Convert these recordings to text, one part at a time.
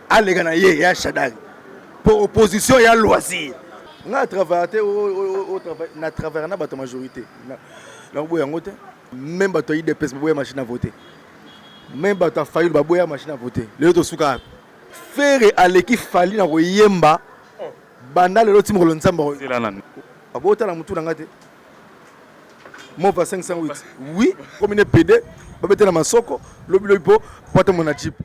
aleka na ye ya shadai mpo opposition ya loisir nga travaille te na travaille na bato majorité nakoboya yango te meme bato ya idps baboya machine à voter meme bato ya fayulu baboya machine à voter lelo tosuka wapi fere aleki fali na koyemba banda lelo ti mokolo nzambe abotala motu na nga te mova 508 oui komine pede babetela masoko lobilobi mpo po atamona jipe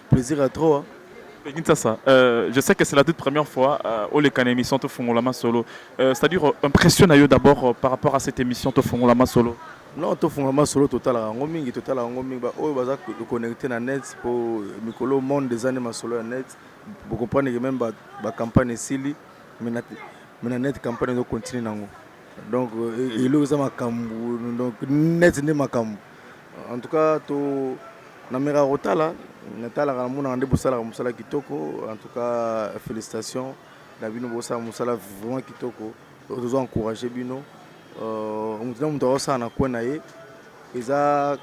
Plaisir à trop hein. Peggy Nsasa, euh, je sais que c'est la toute première fois euh, au Lekana émission Tofongolama Solo. Euh, C'est-à-dire, euh, impression na yo d'abord euh, par rapport à cette émission Tofongolama Solo. non tofungama solo totalaka yango mingi totalaka yango mingi baoyo baza connecte na net mpo mikolo monde eza nde masolo ya net bocomprendre ke meme bacampagne esili mais na net campagne ezocontinue nango donc eloko eza makambo donc neti nde makambo en tout cas to namekaka kotala natalaka namonaka nde bosalaka mosala kitoko en tout cas félicitation na bino bosala mosala vraiment kitoko tozo encourage bino euh, moto na moto akosala na coin na ye eza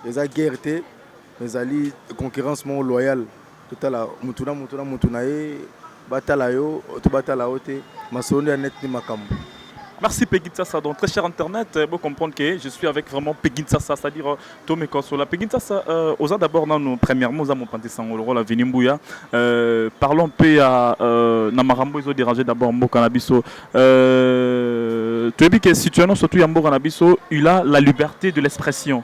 eza guerre te ezali concurrence moko loyale Totala mutu na mutu na mutu na ye batala yo to batala yo te masolo nde ya net nde makambu. Merci Peggy Tsassa. Donc, très cher Internet, vous euh, comprenez que je suis avec vraiment Peggy Tsassa, c'est-à-dire euh, Tomé Konsola. Peggy Tsassa, euh, aux d'abord, nous, premièrement, nous avons pensé Sangoloro, la Vinimbouya. Euh, parlons un peu à euh, Namarambo, ils ont dérangé d'abord Mbo Canabiso. Euh, tu as dit que situation, surtout à Mbo Canabiso, il a la liberté de l'expression.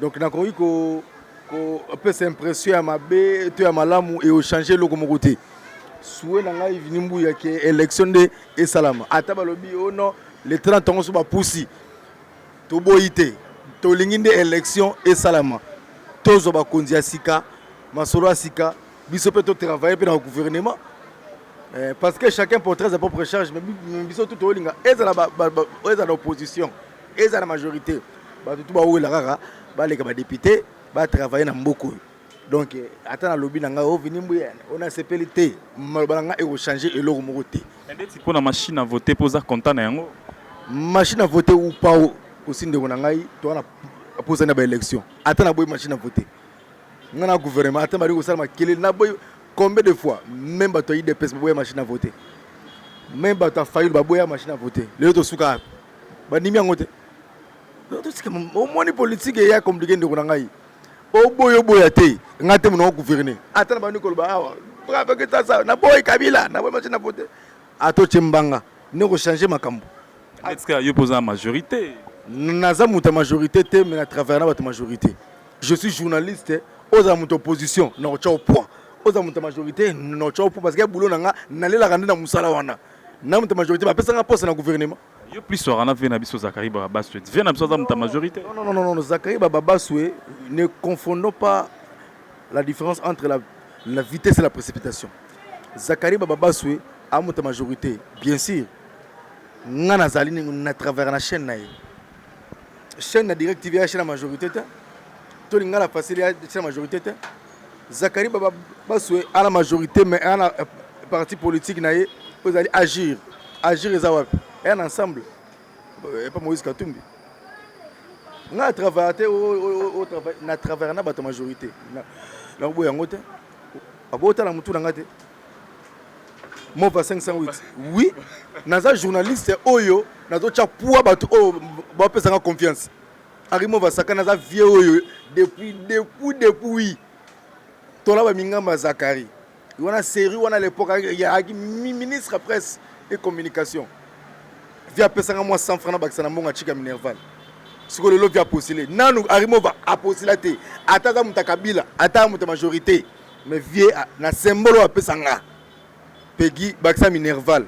donc nakoki kopesa impression ya mabe to ya malamu eochange eloko moko te sue na ngai vini mbuya ke élection nde esalama ata balobi o oh non le 30 yango so bapusi toboyi te tolingi nde élection esalama tozwa bakonzi ya sika masolo ya sika biso mpe totravaille mpe na gouvernement eh, parce que chacun portrait sa propre charge mais biso tout tolinga ezala na opposition ezala na majorité bato tu bawela kaka baleka badepute batravaille na mboka oyo donc ata nalobi na ngai ovini oh, mbuya oyo nasepeli te maloba na ngai ekochange eloko moko te ndeti mpo na machine a vote mpo oza content na yango machine a vote ou pas osi ndeko na ngai toa na posani na baélection ata naboyi machine a vote ngai na gouvernement ata bali kosala makelele naboyi combien de fois même bato ya idps baboya machine a vote même bato ya fayulu baboya machine a vote lelo tosuka bandimi yango te tosika omoni politike eya komplike ndeko na ngai oboya oboya te ngai te monoko gouverne ata na bandi koloba awa brabeketasa naboyi kabila naboyi mace na vote atotye mbanga nde kochange makambo etika yo mpo oza na majorité naza moto ya majorité te mais na travaille na bato majorité je suis journaliste ozala moto opposition na kotya o point ozala moto ya majorité na kotya o point parce que ya boulot na nga nalelaka nde na mosala wana na mutu majorité ba pesa nga poste na gouvernement yo plus soir na vie na biso Zachary Babaswe vie na biso aza mutu majorité non non non non Zachary Babaswe ne confondons pas la différence entre la la vitesse et la précipitation Zachary Babaswe a mutu majorité bien sûr nga nazali na travers na chaîne na ye chaîne na direct tv ya chaîne na majorité te tolinga na facile ya chaîne na majorité te Zakari baba baswe ana majorité mais ana euh, parti politique na ye oyo ezali agir agir eza wapi eya na ensemble euh, epa moïse katumbi nga travaille te na travaille na bato majorité nakoboya yango te abotala motu na nga te mova 508 oui naza journaliste oyo nazotya pua bato oyo bapesanga confiance Arimo Vasakana aza vieux oyo depuis depuis depuis tola ba mingamba Zakari wana série wana à l'époque ayaki ministre presse et communication via apesanga mwa 100 francs na bakisa na mbongo atika minerval sikoyo lelo via apostile nanu arimova apostila te ata aza moto ya kabila ata moto ya majorité mais vie na symbole oyo apesanga Peguy bakisa minerval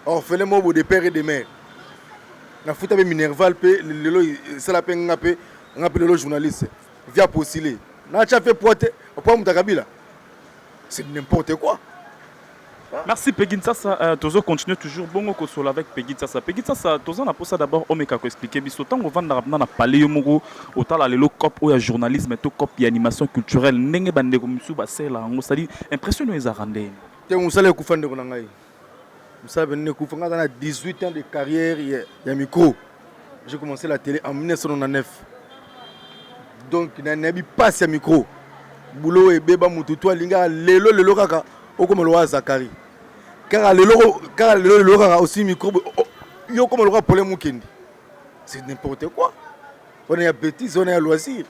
orphelin mobo de père et de mère nafuta mpe minerval mpe lelo esala mpe nga mpe nga mpe lelo journaliste via postile natya mpe pwa te pwa moto akabila c'est n'importe quoi Merci Peggy Nsasa, euh, tozo continuer toujours bongo kosola avec Peggy Nsasa. Peggy Nsasa, toza na posa d'abord omeka ko expliquer biso tango vanda na palais yo moko Otala lelo cop oyo ya journalisme to cop ya animation culturelle ndenge ba ndeko misusu ba sela yango c'est à dire impression no ezaka ndenge te musala ekufa ndeko na ngai musala pe ndeko ekufa ngai na 18 ans de carrière ya, ya micro j'ai commencé la télé en 1999 donc na nabi passe ya micro boulot ebeba mutu to alingaka lelo lelo kaka okoma lowa Zakari kaka lelo kaka lelo lelo kaka osi micro yo okoma loka pole mukende c'est n'importe quoi wana ya bêtise wana ya loisir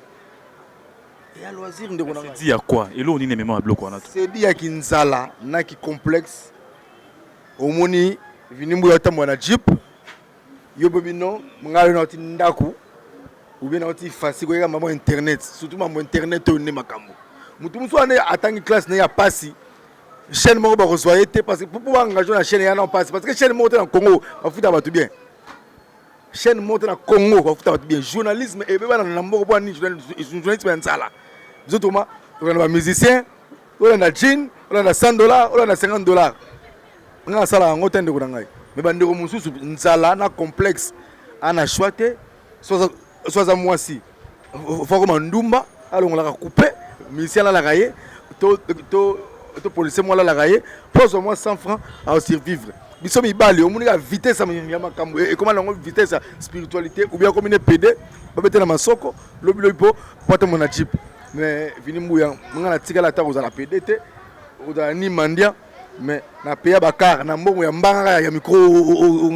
ya loisir ndeko na dit ya quoi eloko nini emema biloko wana c'est dit ya kinzala na ki complexe omoni vinimbu ya tambo na jeep yo pe bino ngai na ti ndaku ou bien na ti fasi ko yeka maman internet surtout maman internet oyo nde makambo mutu musu ane atangi classe na ya pasi chaîne moko bakozwa ye te parce que mpo baengage na chaîne ya na mpasi parce que chaîne moko te na congo bafuta bato bien chaîne moko te na congo bafuta bato bien journalisme ebebana na mboka mpo nini journalisme ya nzala biso toma tolanda bamusicien olanda jean olanda 100 dollar olanda 50 dollar ngai nasala yango te ndeko na ngai me bandeko mosusu nzala na complexe ana shwa te so aza mwasi fakoma ndumba alongolaka coupe musicien alalaka ye to, to, to policier moko alalaka ye mpo azwa mwa 100 franc asurvivre biso mibali omoni ka vitesse ya makambo e, ekoma nango vitesse ya spiritualité ou bien akomi ne pede babete na masoko lobilobi mpo mpo atambo na jeep mais vini mbuya nga natikala ata kozala pede te kozala ni mandia mais na peya bakar na mbongo ya mbangaka ya micro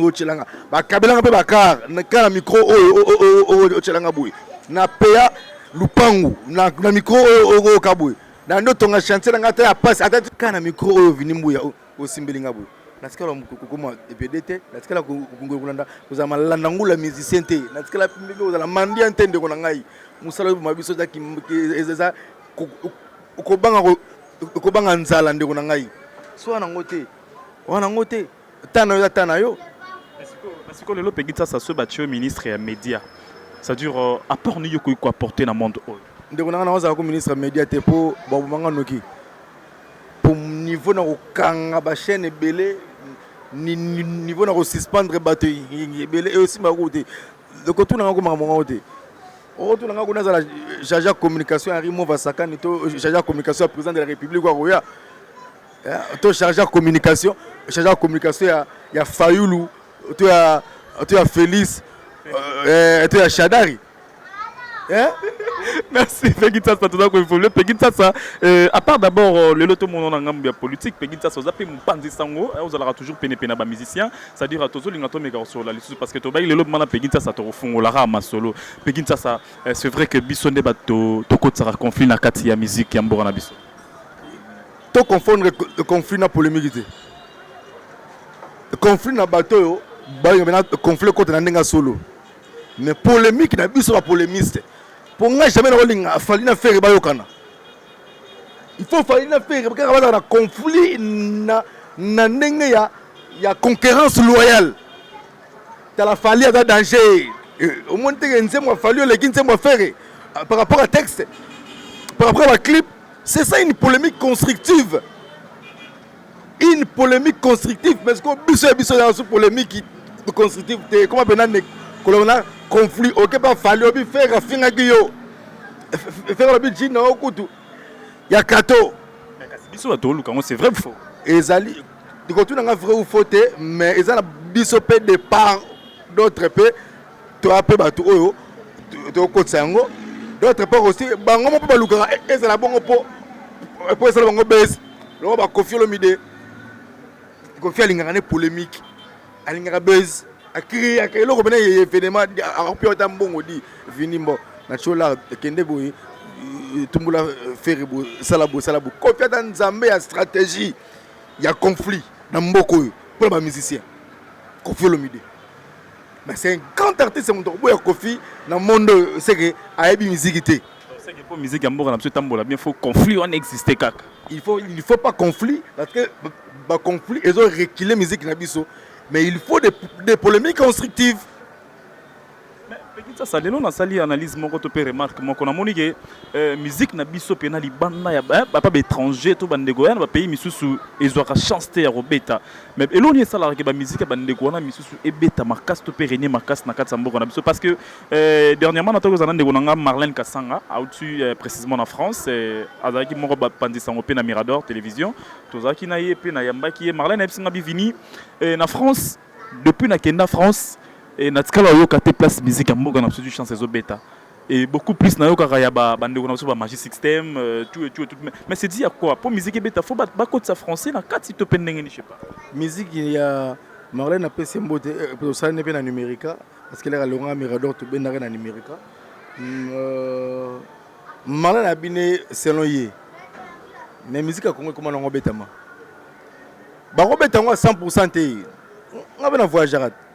otyelanga bakabelanga mpe bakar ka na micro oyo otyelanga boye na peya lupangu na micro oyo okoyoka boye na nde otonga chantier na ngai ata ya pasi ata ka na micro oyo vini mbuya osimbeli ngai boye natikala kokoma ebede te natikala kolanda kozala malanda ngula musicien te natikala ndenge kozala mandian te ndeko na ngai mosala oyo boma biso eza kobanga Kobanga nzala ndeko na ngai. So wana ngo te. Wana ngo te. Tana yo tana yo. Siko lelo Peggy Tsasa so ba tio ministre ya media. Ça dure euh, apport ni yoko ko apporter na monde oyo. Ndeko na ngai na ozala ko ministre ya media te po ba bomanga noki. Po niveau na kokanga ba chaîne ebele ni niveau na ko suspendre bato ebele et aussi ba kote. Loko tuna ngako makambo ngako te. okotuna nga kuna azala jaja communication ya rimo vasakani to jaja communication ya président de la république akoya eh, to charge ya communication charge ya communication ya, ya fayulu to ya, to ya félix euh, eh, to ya shadari eh? merci pegi nsasa toza koevolue pegi nsasa euh, à part d'abord euh, lelo tomonana ngambo ya politique pegi nsasa oza mpe mopanzi sango ozalaka toujours penepene na bamusicien C'est à dire tozo linga to meka kosolola lisusu parce que tobaki lelo bima na Peggy Nsasa tokofungola kaka masolo Peggy Nsasa eh, c'est vrai que biso nde bato tokotisaka conflit na kati ya musique ya mboka na biso to confondre co- le conflit na polémique te conflit na bato oyo balinga bena conflit ekota na ndenge ya solo mais polémique na biso bapolémiste mpo ngai jamais nakolinga afali na fere bayokana il faut fali na ferre kaka bazala na conflit na, na ndenge ya, ya concurrence loyale tala fali aza danger eh, omoni teke nzembo ya fali oleki nzembo ya ferre ah, par rapport à texte par rapport à baclip c'est ça une polémique constructive une polemique constructive mais sikoyo biso ya biso ya su polemique constructive te ekoma mpena ne koloba na conflit oke mpe afali obi fere afingaki yo fere olobi jini na yo kutu ya kato biso bato oluka yango c'est vrai faux ezali likotuna nga vrai ou faux te mais eza na biso mpe de part d'autre mpe toya mpe bato oyo tokotisa yango d'autre part aussi bango moko mpe balukaka e, ezala bongo mpo mpo esala bango bese loko bakofi olomide kofi alingaka ne polémique alingaka bese akriaka eloko mpena ye evenema akopi ata mbongo di vini mbo na tiolar ekende boye etumbola e, e, fere bosala bosala bo kofi ata nzambe ya stratégie ya conflit na mboka oyo mpo na bamusicien kofi olomide mais c'est un grand artiste moto akoboya kofi na monde oyo seke ayebi miziki te seke mpo miziki ya mboka na biso etambola bien faut conflit wana existe kaka il faut il faut pas conflit parce que baconflit ezo recule miziki na biso mais il faut des, des polémiques constructives sasa lelo nasali analyse moko to mpe remarque moko namoni ke euh, musique na biso mpe na libanda ya bapa baétranger to bandeko ya na bapays misusu ezwaka chance te ya kobeta Mais eloko nini esalaka ke ba musique ya ba ndeko wana misusu ebeta makasi to pe renier makasi na kati ya mboka na biso parce que euh, dernièrement na tokozana ndeko na nga Marlène Kasanga autu euh, précisément na France euh, azalaki moko ba panzi sango pe na Mirador télévision tozalaki na ye pe na yambaki ye Marlène ayebisi nga bivini euh, na France depuis na kenda France et na tikala oyoka te place musique ya mboka na biso du chance ezobeta et beaucoup plus nayokaka ya ba bandeko na biso ba magie système euh, tout et tout et tout mais, mais c'est dit à quoi po musique ebeta faut bakotisa français na kati to mpe ndenge ni je sais pas musique ya marlène apesi mbote euh, osali ne mpe na numérica parce que laka longa mirador tobendaka na numérica mm, euh, marlène abine selon ye mais musique ya kongo ekoma nango obetama bakobeta yango ya 100 pourcent te nga mpe na voyageaka te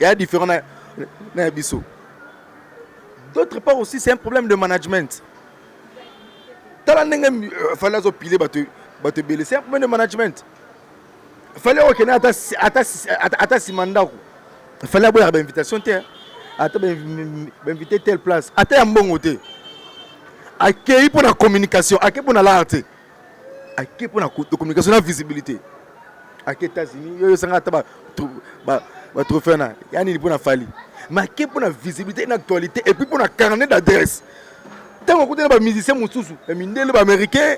ya différent na, na ya biso d'autre part aussi c'est un problème de management tala ndenge euh, fali azopile bato bato ebele c'est un problème de management fali akokende ata nsima ndako fali aboyaka bainvitation te ata bainvite telle place ata ya mbongo te akei mpo na communication akei mpo na lar te ake mpo na communication na visibilité ake états-unis yo esanga ata batrophée na ya nini mpo na fali mais ake mpo na visibilité na actualité epuis mpo na carnet d'adresse ntango akuti na bamusicien mosusu ya mindele baaméricain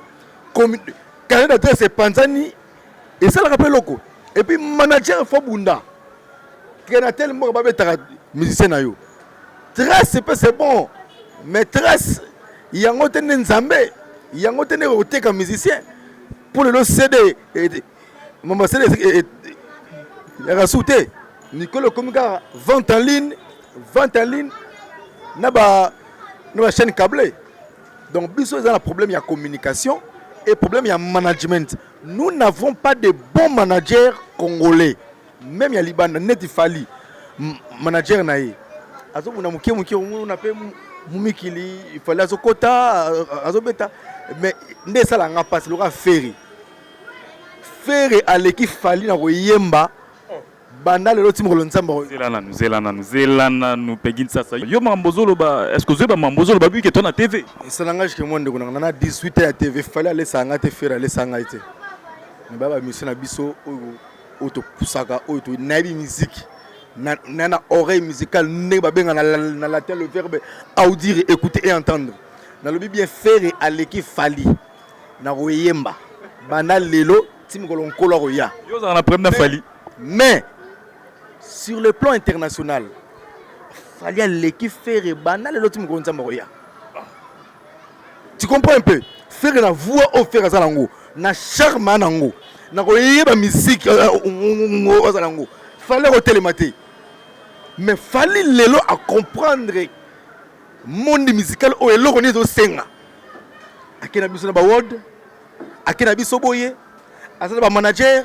carnet d'adresse epanzani esalaka mpe eloko epuis manager fo bunda kenatel moko babetaka musicien na yo Tres pe c'est bon mais tres yango te nde nzambe yango te nde koteka musicien mpo lelo cd mama cd yaka su te mikolo ekomi kaka vente en ligne vente en ligne na ba na ba chaîne cable donc biso eza na problème ya communication et problème ya management nous n'avons pas de bons managers congolais meme ya libanda neti fali manager na ye azobunda moke moke omona mpe mumikili fali azokota azobeta mais nde esala nga mpasi lokola feri feri aleki fali na koyemba banda lelo ti mokolo nzambe zela nanu zela nanu zela nanu pegi nsasa yo makambo ozoloba estce ozoyeba makambo ozoloba bike to na tv esala nga jike mwa ndeko nanga na 18 ya tv fali alesanga te feri alesanga ye te mibaya bamisio na biso oyo oyo topusaka oyo to nayebi miziki na na, na oreille musicale ndenge babenga na, na latin le verbe audire écouter et entendre nalobi bien fere aleki fali na koyemba banda lelo ti mokolo nkolo akoya yo ozalaka na problème na fali mais sur le plan international fali aleki fere banda lelo ti mokolo nzambe akoya Tu comprends un peu? Ferre na voix oyo Ferre aza nango, na charme a nango, na koyeba musique euh, euh, aza nango, fallait kotelema te. Mais fallait lelo a comprendre monde musical oyo eloko nini ezosenga. Akenda biso na ba world, akenda biso boye, aza na ba manager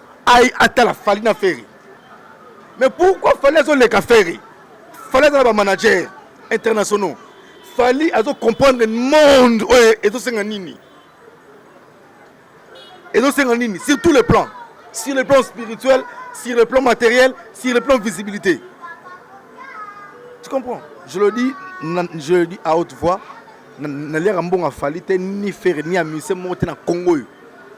Aïe atala Fally na Ferre. Mais pourquoi Fally azo leka Ferre? Fally aza na ba managers internationaux. Fally azo comprendre monde oyo ezo senga nini? Ezo senga nini? Sur tous les plans. Sur le plan spirituel, sur le plan matériel, sur le plan visibilité. Tu comprends? Je le dis, je le dis à haute voix. Na lera mbonga Fally te ni Ferre ni Amuse moko te na Congo. Yo.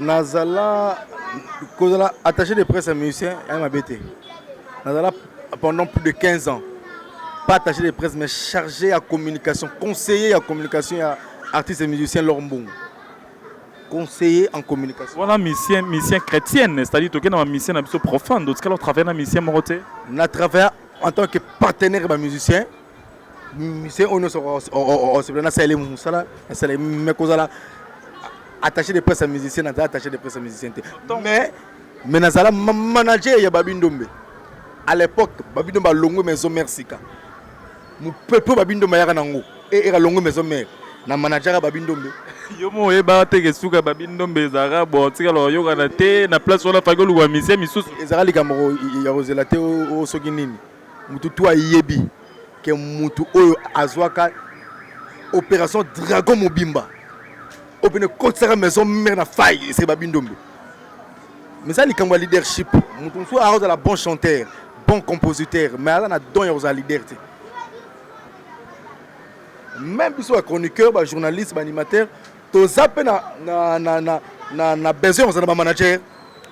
nazala kozala attaché de presse ya musicien ya mabe te nazala pendant plus de 15 ans pas attaché de presse mais chargé ya communication conseiller ya communication ya artiste musicien lor mbongo conseiller en communication wana mission mission chrétienne c'est-à-dire tokei na bamission na biso profane totikala otravaille na mission moko te na travaille en tant que partenaire ya bamusicien misien oyo nyonso osepela nasaleli mosala nasaleli me kozala attaché de presse ya musicien naza attaché de presse ya musicien te mais mais nazala manager ya babi ndombe à l'époque babi ndombe alongwe maison mère sika mopepe babi ndombe ayaka nango eka longwe maison mère na manajaka babi ndombe yo mo oyeba te ke suka babi ndombe ezalaka bon tika lo oyokana te na place wana faki oluka misie misusu ezalaka likambo ya kozela te o soki nini mutu tu ayebi ke mutu oyo azwaka operation dragon mobimba oyo pene ekotisaka maison mère na faille eseba bindombe mais eza likambo ya leadership mutu mosusu akozala bon chanteur bon compositeur mais aza na don ya kozala leader te même biso ba chroniqueur ba journaliste ba animateur toza mpe na, na, na, na, na, na besoin kozala bamanager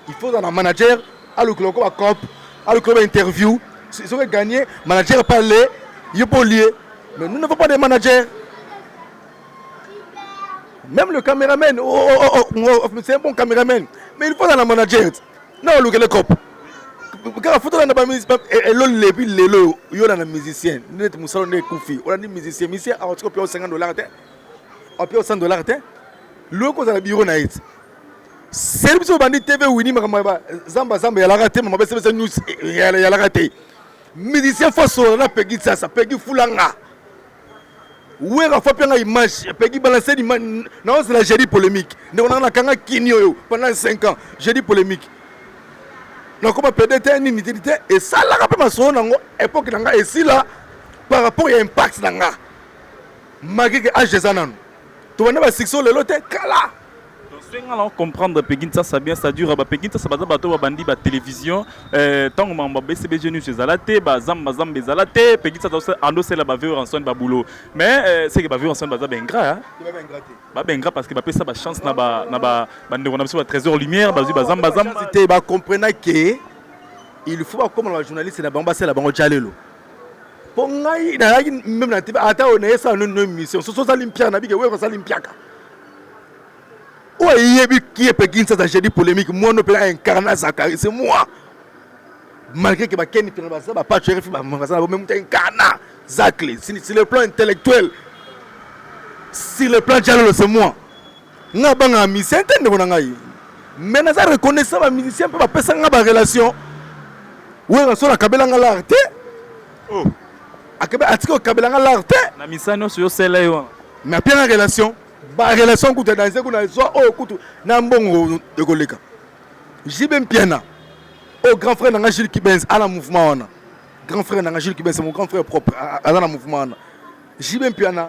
il faut ozala na manager alukela oko bacop alukela bainterview soki egagne manager mpe ale ye mpe olie mais nous n'avons pas de manager même le caméraman oh, oh, oh, oh, oh, oh c'est un bon caméraman mais il faut ozala na manager na olukele cop kaka fo tolanda eloli lebi lelo yo olanda musicien neti mosala nde ekufi olandi musicien musicien akotika mpe osenga dollar te Apia 100 dollars te. Loye ko zala bureau na yete. Seri biso bandi TV Winnie makambo ya zamba zamba ya laka te makambo ya sebesa news eh, ya laka te. Musicien fasola na Peggy sasa Peggy fulanga. Wera fa pianga image Peggy balancer image na on la jeudi polémique. Ndeko na kanga kinyo yo pendant 5 ans jeudi polémique. Na koma pede te nini te te et ça la pe masolo nango époque nanga et si là par rapport ya impact nanga. Makeke age eza nanu. Tobanda ba succès lelo te kala. Senga na comprendre Peggy Nsasa bien ça dure ba Peggy Nsasa baza bato babandi ba télévision euh tango mamba BCBG news ezala te ba zamba zamba ezala te Peggy Nsasa ando sela ba vivre ensemble ba boulot mais euh, c'est que ba vivre ensemble baza ba ingrat hein ba ba ingrat parce que ba pesa ba chance na ba na ba ba ndeko na biso ba trésor lumière bazui ba zamba zamba te ba comprendre que il faut ba comme la journaliste na bango basela bango jalelo po ngai nayaki meme na tv ata oyo naye esala noni no émission soso osali mpiaka nabike weko osali mpiaka oyo eyebi kie mpe kinsaza jeudi polémique mwana mpe na incarna zakari c'est moi malgré que bakeni mpe baza bapacho rfi baza na bo meme incarna zakle sur le plan intellectuel sur le plan jalolo c'est moi nga banga musicien te ndeko na ngai mais naza reconnaissant ba musicien mpe bapesa nga ba relation wera so nakabela nga lar te oh. akabe atiki okabela nga lar te na misa nyonso yosela ye wana mais apia nga relation ba relation kutu ya danse kuna zwa oyo oh, kutu na mbongo ekoleka jibe mpiana oyo oh, grand frère na nga jules kibens ana mouvement wana grand frère na nga jules kibens mon grand frère propre aza na mouvement wana jibe mpiana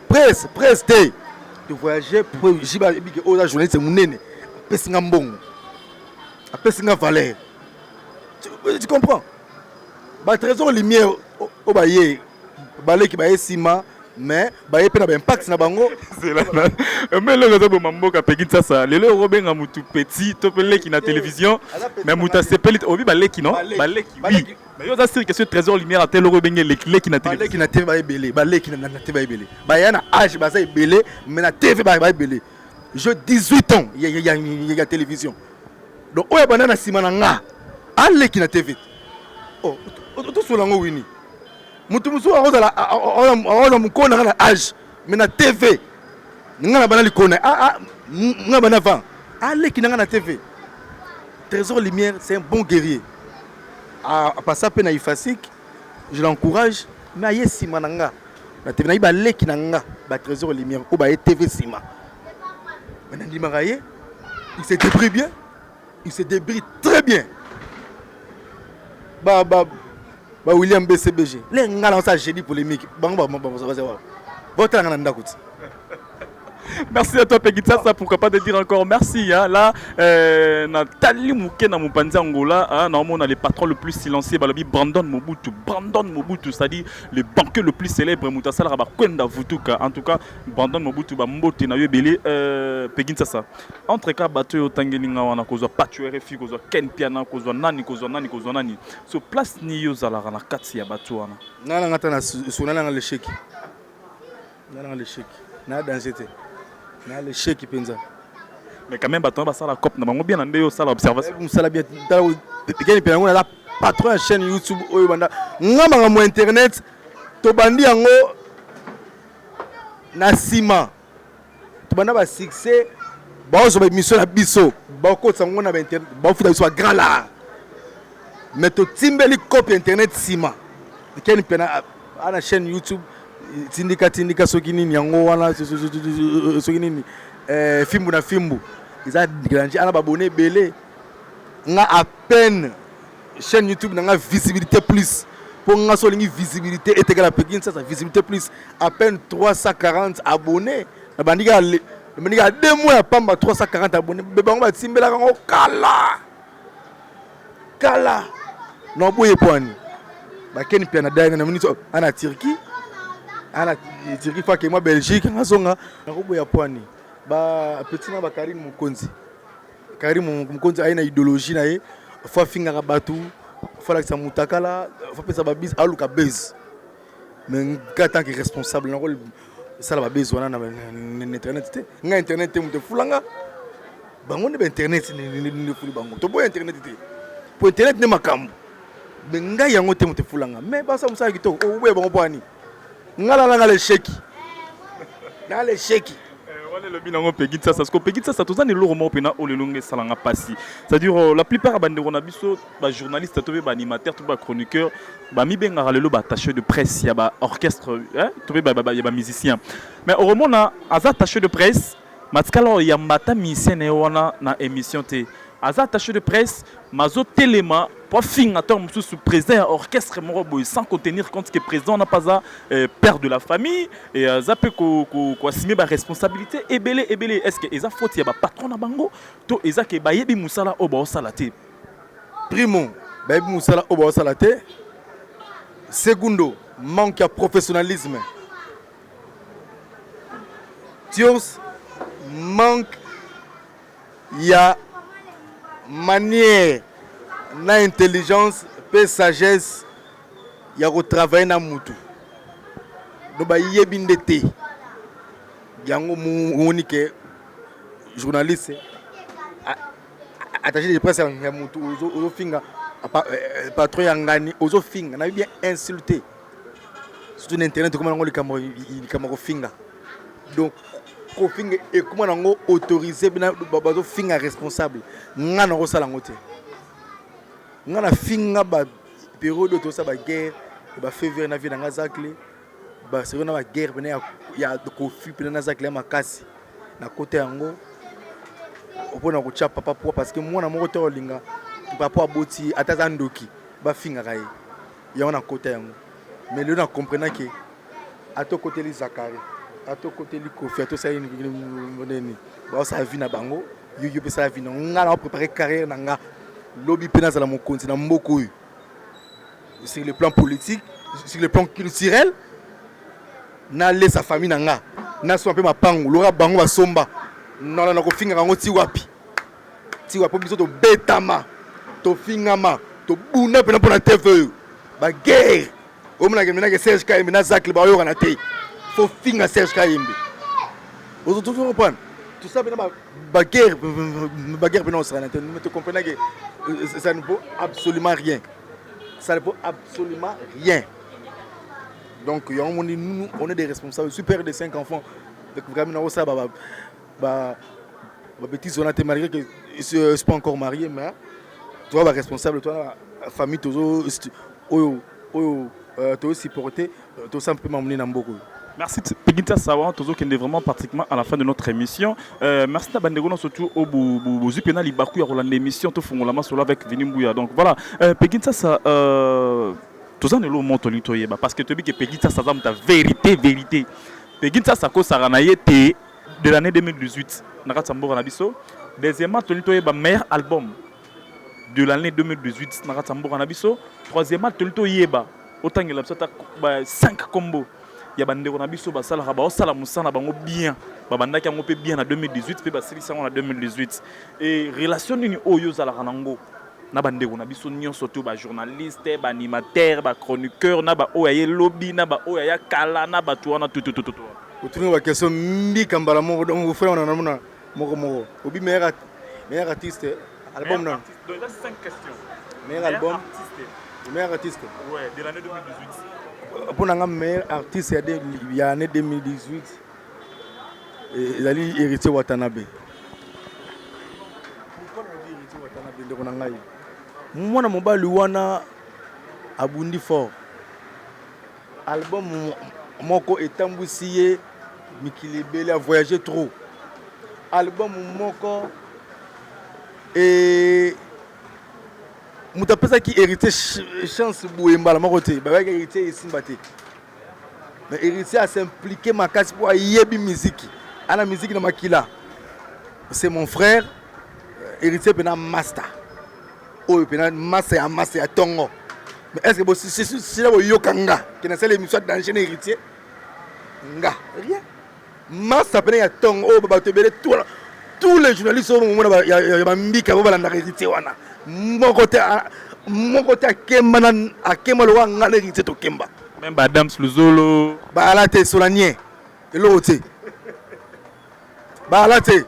presse presse te de voyager pour jiba ayebi ke oza journaliste monene apesi nga mbongo apesi nga valeur tu comprends batrésor lumière oyo baye baleki baye nsima mais baye mpe na baimpact na bango me eloko ezoboma mboka peki nsasa lelo yoko obenga motu petit to mpe leki na télévision mais motu asepeli obi baleki no baleki Mais yo oza sur question trésor lumière ata eloko ebenge leki leki na tele. Baleki na TV ba ebele, baleki na na TV ba ebele. Baya na âge baza ebele, mais na TV ba ba ebele. Je 18 ans ya ya ya ya télévision. Donc oyo bana na sima na nga, aleki na TV. Oh, to sola ngo wini. Mutu musu akozala akozala mukona nga na âge, mais na TV. Nga na bana likona, ah ah, nga bana avant. Aleki na nga na TV. Trésor Lumière, c'est un bon guerrier. a passa pe na ifasic je l'encourage mais aye nsima na nga na tv nayebi baleki na nga ba trésor lumière oyo baye tv nsima me nandimaka ye il se débrie bien il se débrie très bien ba ba ba william bcbg le nga na osa jeudi polémique bango baza wawa baotalanga na ndako ti Merci à toi Pegitsasa, pourquoi pas de dire encore merci. Hein. Là, euh, Nathalie Mouké na Moupanzi Angola, hein, normalement on a le patron le plus silencieux, balobi Brandon Mobutu, Brandon Mobutu, c'est-à-dire le banquier le plus célèbre, Moutasala Rabakwenda Vutuka. En tout cas, Brandon Mobutu, ba mbote na yo belé, euh, Pegitsasa. Entre cas, bateau yo tangelinga wana kozwa patchou RFI, kozwa Ken Piana, kozwa nani, kozwa nani, kozwa nani. So place ni yo zalara na kati ya bateau wana. Nana ngata na sonala na l'échec. Nga na l'échec. Na danse te. Na l'échec penza. Mais quand même bato basala cop na bango bien na nde osala observation. Mosala bien tala tekeni mpe yango naza patron ya chaîne YouTube oyo banda nga makambo internet tobandi yango na nsima tobanda ba succès baozwa baemission na biso bakotisa yango na bainternet bafuta biso bagrand lar mais totimbeli cope internet nsima ekeni mpena a na chaîne youtube tindika tindika soki nini yango wana soki nini eh, fimbu na fimbu eza grandi ana babone ebele nga à peine chaîne youtube na nga visibilité plus mpo nga so olingi visibilité etekala mpe kinsasa visibilité plus à peine 340 abonné nabandi kaka deux mois ya pamba 340 abonné bango batimbelaka yango kala kala na boye pwani bakeni pia na dai na minute ana Turquie ana Turquie fake mwa Belgique nazonga na koboya pwani ba petit na ba Karim Mukonzi Karim Mukonzi aye na idéologie na ye fa fingaka batu fa lakisa mutakala fa pesa ba bis aluka buzz mais nga tant que responsable nako sala ba base wana na internet te nga internet te moto efula nga bango nde ba internet nde efuli bango toboya internet te po internet nde makambo mais ngai yango te moto efula nga mais basala mosala kitoko oboya oh, bango po ani nga lalanga lesheki na lesheki wana elobi nango pegi sasa siko pegi sasa toza na eloko moko mpena oyo lelo nga esalanga mpasi c'est-à-dire euh, la plupart ya bandeko na biso ba journaliste to mpe ba animateur to mpe ba chroniqueur bamibengaka lelo baattaché de presse ya baorchestre to mpe ya bamusicien mais okomona aza attaché de presse matikala oyo yamba ata musicien na ye wana na émission te aza attaché de presse mazotelema mpo afinga ntango mosusu président ya orchestre moko boye sans kotenir compte que président wana mpe aza euh, père de la famille e aza mpe koassume baresponsabilité ebele ebele est ce que eza faute ya bapatron na bango to eza ke bayebi mosala oyo baosala te primo bayebi mosala oyo baosala te segundo manque ya professionnalisme tios manque ya manière na intelligence mpe sagesse ya kotravaille na mutu no bayebi nde te yango moni ke journaliste attaché de presse ya mutu ozofinga euh, patron ya ngani ozofinga nayebi bien insulté surtout na internet ekoma nango likambo likambo kofinga donc kofinga ekoma nango autorisé bina bazofinga responsable ngai nakosala yango te ngai nafinga ba periode oyo tosala baguerre bafevere na vie na ngai zakle Barcelone na ba guerre pene ya, ya Kofi pene na Zakle makasi na kota yango mpo na kotya papa poa parce que mwana moko te olinga papa aboti ata aza ndoki bafingaka ye yango na kota yango mais lelo na comprena ke ata okoteli zakari ata okoteli kofi ata osali nini baosala vi na bango yo yo mpe sala vi na ngai na oprepare carrière na ngai lobi mpe nazala mokonzi na mboka oyo sur le plan politique sur le plan culturel nalesa famille na nga nasomba mpe mapangu loka bango basomba nalanda kofingaka yango ti wapi ti wapi biso tobetama tofingama tobunda mpena mpo na tv oyo baguerre omonake menake serge kayembe na zacle baoyokana te fo finga serge kayembe ozotozokompana tosa pena baguerre baguerre pena osalana te te comprenake euh, ça ne vaut absolument rien ça ne vaut absolument rien donc yango moni nous on est des responsables super de cinq enfants donc vraiment nakosala ba ba bêtises wana te malgré que je suis pas encore marié mais tu vois ba responsable toi famille tozo oyo oyo euh, tozo supporter euh, to sampe mamuni na mboko Merci Pigita Sawa, tozo kende vraiment pratiquement à la fin de notre émission. Euh, merci na bandeko na surtout au bozu pena libaku ya kolanda émission to fungola masolo avec Vini Mbuya. Donc voilà, euh, Pigita sa euh, toza na lo moto lito yeba parce que tobi que Pigita sa za muta vérité vérité. Pigita sa ko sarana yete de l'année 2018 na kati ya mboka na biso deuxièmement toli toyeba meilleur album de l'année 2018 na kati ya mboka na biso troisièmement toli toyeba otangela biso ata 5 combo ya bandeko na biso basalaka baosala mosala na bango bien babandaki yango mpe bien na 2018 mpe basilisi yango na 2018 e relation nini oyo ozalaka na yango na bandeko na biso nyonso to bajournaliste baanimateur bachroniqueur na baoyo aye lobi na baoyo aya kala na bato wana tutututu otuni bakestion mbika mbala moko donc ofai wana namona moko moko obi meilleur meilleur artiste album na meilleur album meilleur artiste ouais de l'année 2018 mpo na nga meilleur artiste ya année 2018 ezali Heritier Watanabe. Pourquoi on dit Heritier Watanabe ndeko na ngai? Mwana mobali wana abundi fort. Album moko etambwisi ye mikili ebele a voyager trop. Album moko et moto apesaki héritier chance boye mbala moko te bayaki héritier esimba te Mais héritier a s'impliquer makasi pour ayebi musique. Ana musique na makila. C'est mon frère euh, héritier pena master. Oyo pena master ya master ya tongo. Mais est-ce que bo sila bo yokanga que na sala émission d'enchaîner héritier? Nga rien. masa pene ya tongo oyo bato ebele twana tous les journalistes oyo bomona ya bambika bo balandaka héritier wana moko te moko te akemba na akemba lokola ngai na héritier tokemba meme badams luzolo baala te solanie eloko te baala te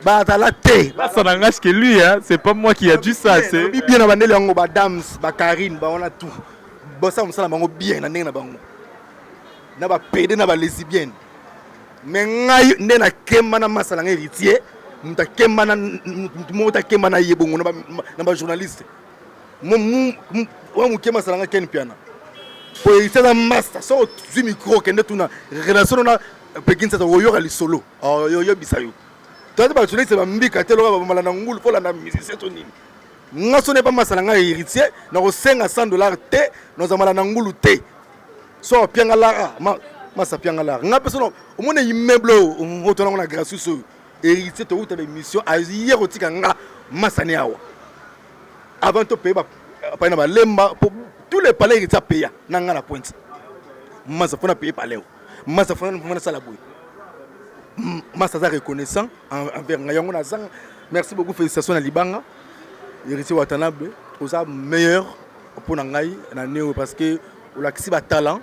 bazala te basa na ngai ceke lui c'est pas moi qui a dit ça c'est bien na bandeli yango badams bacarine bawana tout basala mosala bango bien na ndenge na bango na ba pede na ba lesibienne me ngai nde nakemba na masa na ngai héritier moto akemba na moto moko takemba na ye bongo na bajournaliste oyo moke masala ngai ken mpiana po héritier aza masta so ozwi micro okende tuna relation na pekinsasa oyoka lisolo oyebisa yo toyati bajournaliste bambika te loka bamala na ngulu kolanda musicien to nini nga so nepa masala ngai héritier nakosenga 100 dollar te nozamala na ngulu te so piangalara ma masa piangalara nga mpe sono omona immeuble oyo otona yango na gracius oyo héritier towuta baémission aye kotika nga masa ne awa avant topaye bapai na balemba mpo tous les palais héritier apeya na nga na pointe masa mpo na paye palais oyo masa fo nasala boye masa aza reconnaissant envers nga yango nazanga merci beaucoup félicitation na libanga héritier watanabe oza meilleur mpo na ngai na neo parce que olakisi ba talent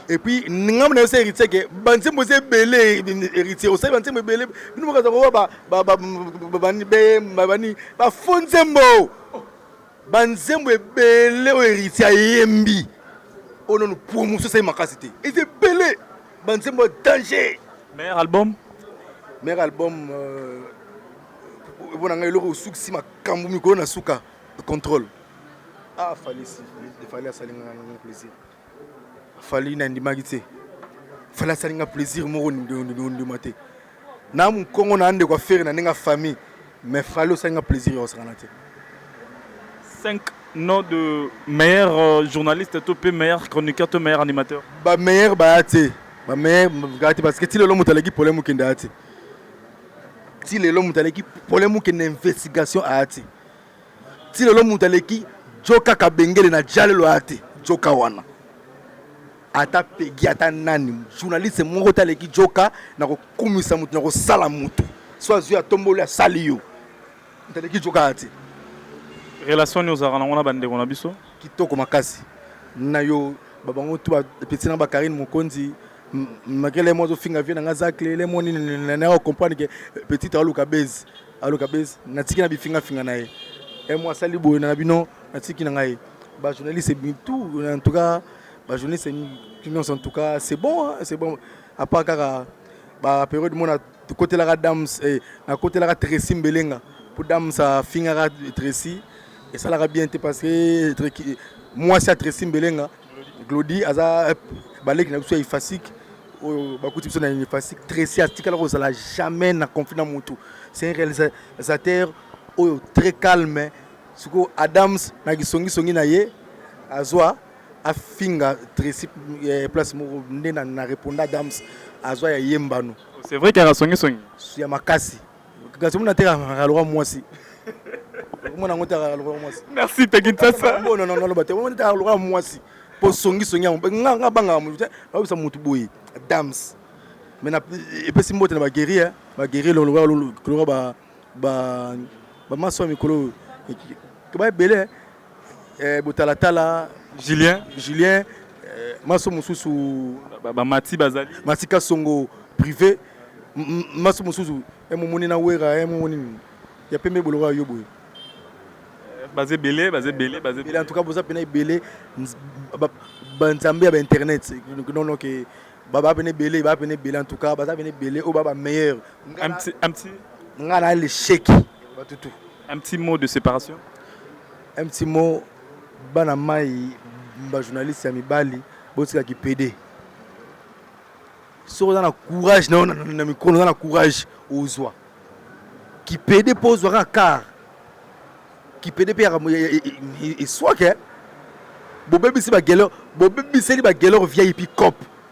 et puis ngambo na yo se héritier ke banzembo eza ebele héritier osali banzembo ebele bino mokaza kowa babani bafo nzembo banzembo ebele oyo héritier ayembi oyo nanu promotion esali makasi te eza ebele banzembo ya danger meilleur album meilleur album euh, mpo na ngai eloko osukisi makambo mikolo na suka contrôle ah fali si fali asali nga na plaisir fali na ndimaki te fali asali nga plaisir moko ndima te na mukongo na ndeko afere na ndenge famille mais fali osali nga plaisir ya kosakana te 5 noms de meilleur euh, journaliste to pe meilleur chroniqueur to meilleur animateur ba meilleur ba te ba meilleur ga te parce que ti lelo moto aleki polemique nda te ti lelo moto aleki polemique na investigation a te ti lelo moto aleki jo kaka bengele na jalelo aya te joka wana ata pegi ata nani journaliste moko te aleki joka na kokumisa moto na kosala moto so azwi atomboli asali yo moto aleki joka aya te relation nini ozalaka nango na bandeko na biso kitoko makasi na yo babango tu bapeti na bakarine mokonzi makele mo azofinga vie na nga zakle le mo nini na comprendre ke petit aluka base Allo Kabez, natiki na bifinga finga na ye. Eh moi asali boye na bino, natiki na ngai. Ba journalistes tout en tout cas ba journalistes en tout cas c'est bon, hein, c'est bon. À part kaka ba période mona kotelaka dame eh, na kotelaka Tracy Mbelenga pour dame sa fingaka Tracy esalaka bien te parce que mwasi ya Tracy Mbelenga Glody aza baleki na biso ya ifasique oyo bakuti biso na ifasique tracy atikala kozala jamais na conflit na motu c'est un réalisateur oyo très calme sikoyo adams na kisongisongi na ye azwa afinga tracy eh, place moko nde na, na reponda adams azwa ya ye mbano c'est vrai kaka songisongi ya makasi Kasi muna teka kalwa mwasi. Muna ngote kalwa mwasi. Merci Teki Nsasa. Non non non bate. Muna teka kalwa mwasi. Po songi songi yango. Nga nga banga mu. Ba bisa mutu boye. Dams. Mais na epesi mbote na ba guerrier, ba guerrier lo lo lo ba ba ba maso mikolo. Ba ebele. eh, botalatala julien julien eh, maso mosusu bamati ba, ba bazali matika songo privé maso mosusu eh, momoni na wera eh, momoni nini ya pembe boloko ya yo boye eh, baza ebele baza ebele baza ebele en tout cas boza pena ebele banzambe ya bainternet nono ke baba pena ebele baa pena ebele en tout cas baza pena ebele oyo baa bameilleur ngai na lesheki batutu Un petit mot de separation. Un petit mot bana mai ba journaliste ya mibali botika kipede soki oza na courage nayo na mikolo oza na courage ozwa kipede mpo ozwa kaka car kipede mpe yaka eswake bobebisi bagelor bobebiseli bagelor vip cop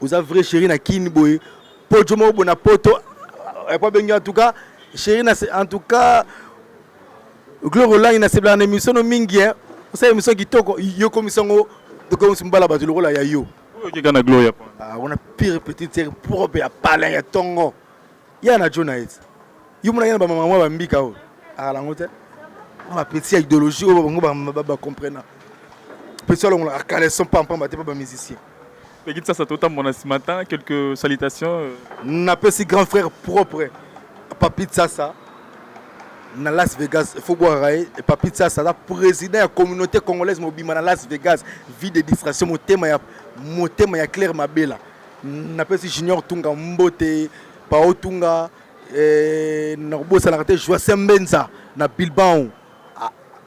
Oza vrai chérie na kin boye pojo moko na poto epo abengi en tout cas chérie na en tout cas gloire olangi na sebelaka na émission no mingi hein osala émission kitoko yo komisa yango tokomisi mobala bato lokola ya yo oyo okeka na gloria ah, wana pire petite sere propre ya palin ya tongo ya na jona ete yo monaki na bamama mwa bambika oyo akala yango te na bapeti ya idéologie oyo bango bacomprena peti alongolaka caleson pampamba te mpa bamusicien peki sasa totambona nsima ta quelques salutations euh. napesi grand frère propre papi tsasa na las vegas fo bwakaka ye papi tsasa aza président ya communauté congolaise mobimba na las vegas vie de distraction motema ya motema ya claire mabela napesi junior tunga mbote pao tunga eh, nakobosanaka te joise mbenza na bilbao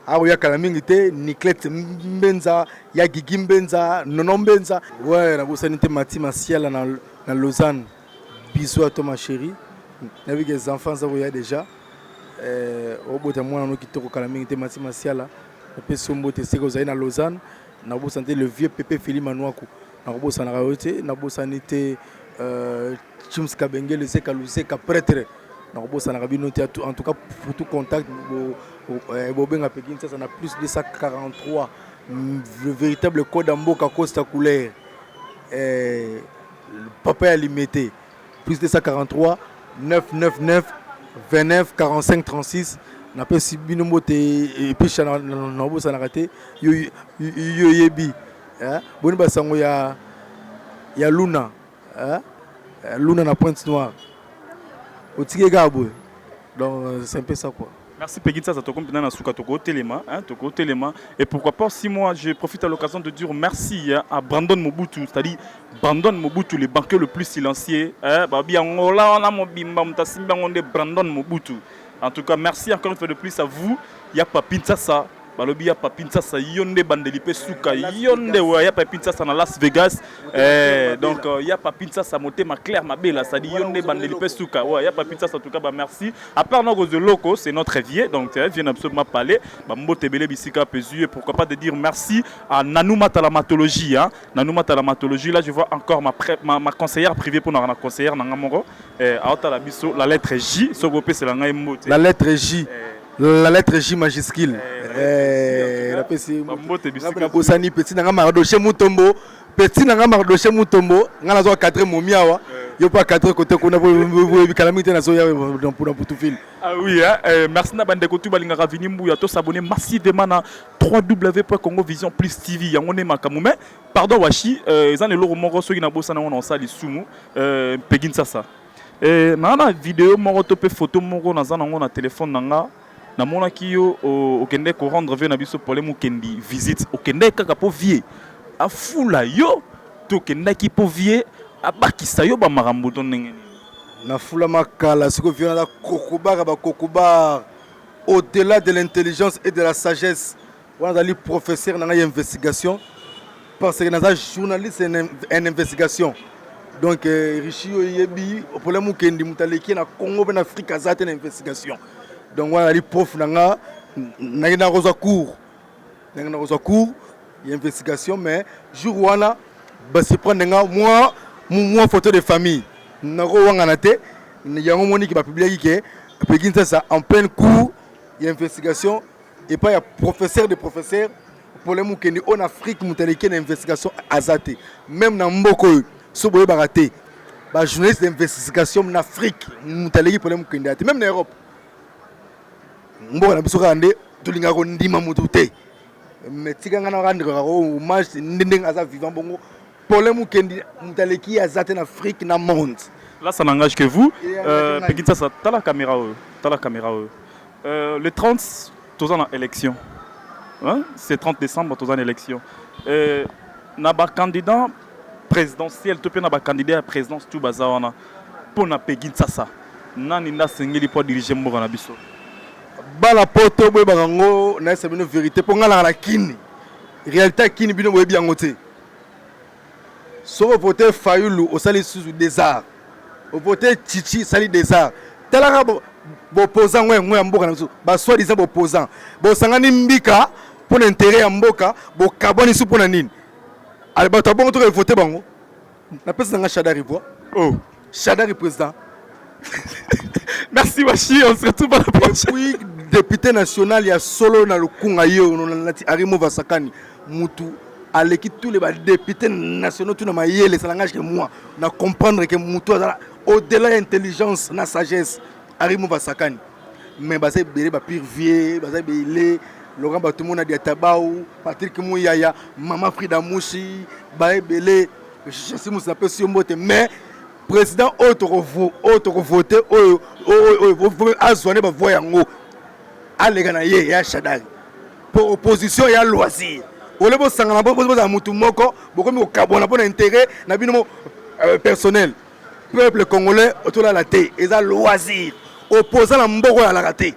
akoya kala mingi te niclet mbenza ya gigi mbenza nono mbenza we nabosani te mati masiala na, na lausanne biso ya to ma chérie nayebi ke enfants aza koya déjà eh, obota mwana no kitoko kala mingi te mati masiala napesi yo mbote seke ozali na lausanne nabosani te le vieux pepe fili manuaku nakobosanaka yo te nabosani te euh, chims kabengele zeka luzeka pretre nakobosanaka bino te en tout cas pour tout contact eh, bobenga mpe kinsasa na plus 243 mm, véritable code ya mboka costa couleur eh, papa ya limete plus 243 999 29 45 36 napesi bino mbote episha nabosanaka te yo oyebi eh, boni ba sango ya ya Luna eh, eh Luna na Pointe Noire otike kaka boye donc euh, c'est un peu ça quoi Merci Peggy Tsaza Tokom Pinana Souka Toko Telema, hein, Toko Telema. Et pourquoi pas, si moi je profite à l'occasion de dire merci hein, à Brandon Mobutu, c'est-à-dire Brandon Mobutu, le banquier le plus silencieux. Hein, Babi Angola, on a mon bimba, on a Brandon Mobutu. En tout cas, merci encore une fois de plus à vous. Il y a Papin Tsaza balobi ya papi nsasa yo nde bandeli mpe suka yo nde oyo ya papi nsasa na las vegas eh, donc euh, ya papi nsasa motema claire mabela sadi yo nde bandeli mpe suka oyo ya papi nsasa tuka bamerci apart na kozwa eloko c'est notre vie donc vie na biso mapale bambote ebele bisika mpe zwi ye pourquoi pas de dire merci à nanou matalamatologie hein? nanou matalamatologie là je vois encore ma, pré, ma, ma conseillère privée mpo naka na conseillère na nga moko eh, aotala biso la lettre j soki opesela ngai mbote la lettre j eh, La lettre J majuscule. Eh, la pesi. Mbote bisika. Bosani petit nanga Mardoche Mutombo. Petit nanga Mardoche Mutombo. Ngana zo cadre momiawa. Eh. Yo pas cadre côté kuna bo bikala mite na zo ya dans pour pour tout film. Ah oui hein. Eh, merci na bande kotu balinga ravini mbuya to s'abonner massivement na www.congovision plus TV yango ne makamu mais pardon washi euh, ezan le loro moko soki na bosana on en sali sumu euh, pegin sasa. Eh, na na video moko to pe photo moko na zana ngo na telephone na nga na mona ki yo okende ko rendre vie na biso pole mukendi visite okende kaka po vie a fula yo to kenda ki po vie a bakisa yo ba makambo to ndenge ni na fula makala siko vie na kokuba ka ba kokuba au delà de l'intelligence et de la sagesse wana azali professeur na ngai ya investigation parce que naza journaliste en investigation donc euh, richi oyo eyebi opole mokendi moto aleki na congo mpe na afrique aza te na investigation donc wana azali prof na nga nake nakozwa cours nake nakozwa cours ya investigation mais jour wana basurprendre nga mwa mwa photo de famille nakowangana te yango moniki bapubliaki ke pekinsasa en pleine cours ya investigation epai ya professeur de professeur pole mokendi oyo na afrique moto aleki na investigation aza te meme na mboka oyo so boyebaka te bajournaliste d'investigation na afrique moto aleki pole mokendi ya te meme na europe mboka na biso kaka nde tolingaka kondima motu te me tika ngai naka ndeko kaka hommage nde ndenge aza vivant bongo pole mokendi moto aleki ye aza te na afrique na monde là ça n'engage que vous euh, pekitasa tala caméra oyo tala caméra oyo Euh, le 30 toza na élection hein? c'est 30 décembre toza na élection euh, na bacandidat présidentiel to mpe na bacandidat ya présidence tu baza wana mpo na pegi nsasa nani nde asengeli mpo adirige mboka na biso bala poto boyebaka yango nayesa bino vérité mpo ngai nanga na kini réalité ya kini bino boyebi yango te Soki o vote Fayulu osali lisusu des arts. O vote Tshitshi esali des arts. Tala kaka bo- bopposant ngo yango ya mboka na biso. Ba soit disant bopposant. Bosangani mbika mpo na interet ya mboka, bokabwani su mpo na nini? Ale bato ya bongo toke vote bango. Napesi na nga Shadari voix. Oh. Shadari président. Merci Washi, on se retrouve à la prochaine. Oui, député national ya solo na lukunga yo nati Arimo Vasakani mutu aleki tous les députés nationaux tout na mayele ça langage que moi na comprendre que mutu azala au-delà intelligence na sagesse Arimo Vasakani mais baza ebele ba pire vieux baza ebele Laurent Batumona Diatabao Patrick Muyaya Mama Frida Mushi ba ebele Joseph Simus napesi yo mbote mais président oyo tokovote oyo azwa nde bavoi yango aleka na ye ya shadari mpo opposition ya loisir ole bosangana bozala motu moko bokomi kokabwana mpo na intérêt na bino euh, personnel peuple congolais otolala te eza loisir opposant na mboko ya alaka te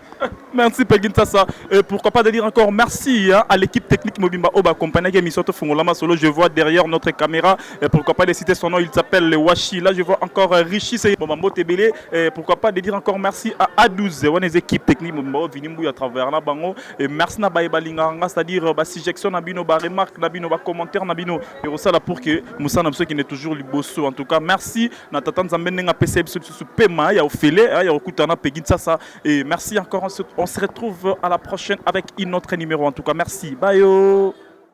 Merci Peggy Ntassa. Et pourquoi pas de dire encore merci hein, à l'équipe technique Mobimba Oba accompagnée qui émission Fungolama Solo. Je vois derrière notre caméra, et pourquoi pas de citer son nom, il s'appelle le Washi. Là, je vois encore euh, Rishi c'est Bomambo Tebele. Et pourquoi pas de dire encore merci à A12, on les équipes techniques Mobimba Oba Vinimbu à travers la bango. Et merci na Baye Balinganga, c'est-à-dire euh, ba suggestion na bino, ba remarque na bino, ba commentaire na bino. ekosala pour que mosala na biso ekende toujours liboso en tout cas merci na tata nzambe ndenge apesa ye biso lisusu pema ya ofele ya kokutana na pegi nsasa et merci encore on se retrouve à la prochaine avec une autre numéro en tout cas merci bayo